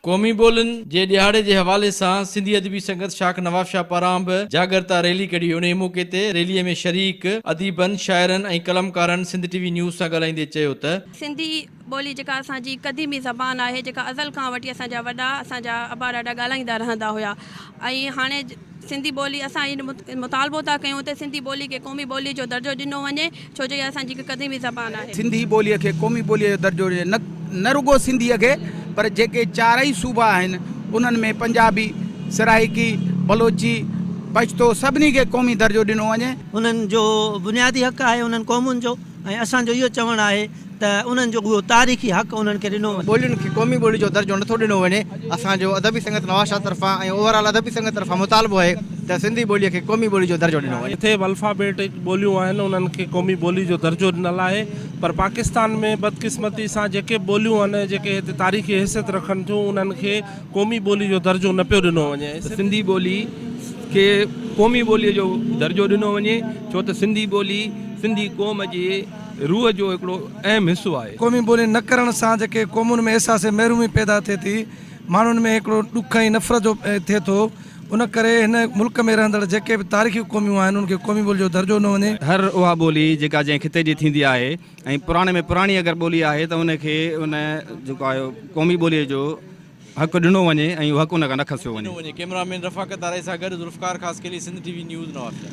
قومي ٻولين جي ڏهاڙي جي حوالي سان سنڌي ادبي سنگت شاخ نوابشاهه پاران به جاڳرتا ريلي ڪڍي انهي موقعي تي ريلي ۾ شريڪ اديبن، شاعرن ۽ قلمڪارن سنڌ ٽي وي نيوز سان ڳالهائيندي چيو ته. سنڌي ٻولي جيڪا اسان جي قديمي زبان آهي جيڪا ازل کان وٺي اسان جا وڏا اسان جا ابا ڏاڏا ڳالهائيندا رهندا هيا ۽ هاڻي سنڌي ٻولي اسان اهو مطالبو ٿا ڪيون ته سنڌي ٻولي کي قومي ٻولي جو درجو ڏنو وڃي ڇو جو اها اسان جي هڪ قديمي زبان آهي. سنڌي ٻولي کي قومي ٻولي جو درجو ڏجي نه رڳو سنڌي کي پر جيڪي چارئي صوبا آهن انهن ۾ پنجابي، سرائيڪي، بلوچي، پشتو سڀني کي قومي درجو ڏنو وڃي. انهن جو بنيادي حق آهي انهن قومن جو. ۽ اسان جو اهو چوڻ آهي ته انهن جو اهو تاريخي حق انهن کي ڏنو وڃي. ٻولين کي قومي ٻولي جو درجو نٿو ڏنو وڃي، اسان جو ادبي سنگت نوازشاهه طرفان ۽ اوور آل ادبي سنگت طرفان مطالبو آهي ته سنڌي ٻولي کي قومي ٻولي جو درجو ڏنو وڃي. جتي به الفابيٽڪ ٻوليون آهن انهن کي قومي ٻولي جو درجو ڏنل آهي پر پاڪستان ۾ بدقسمتي سان جيڪي به ٻوليون آهن جيڪي هتي تاريخي حيثيت رکن ٿيون انهن کي قومي ٻولي جو درجو نه پيو ڏنو وڃي ته سنڌي ٻولي کي قومي ٻولي جو درجو ڏنو وڃي ڇو ته سنڌي ٻولي سنڌي قوم جي روح جو هڪڙو اهم حصو آهي. قومي ٻولي نه ڪرڻ سان جيڪي قومن ۾ احساس محرومي پيدا ٿئي ٿي ماڻهن ۾ هڪڙو ڏک ۽ نفرت جو ٿئي ٿو ان ڪري هن ملڪ ۾ رهندڙ جيڪي به تاريخي قوميون آهن ان کي قومي ٻولي جو درجو ڏنو وڃي. هر اها ٻولي جيڪا جنهن خطي جي ٿيندي آهي. ۽ پراڻي ۾ پراڻي اگر ٻولي آهي ته ان کي ان جيڪو آهي قومي ٻوليء جو حق ڏنو وڃي ۽ اهو حق ان کان نه کسيو وڃي. ڪيمرا مين رفاقت آرائي سان گڏ Zulfiqar Khaskheli Sindh T V news Nawabshah.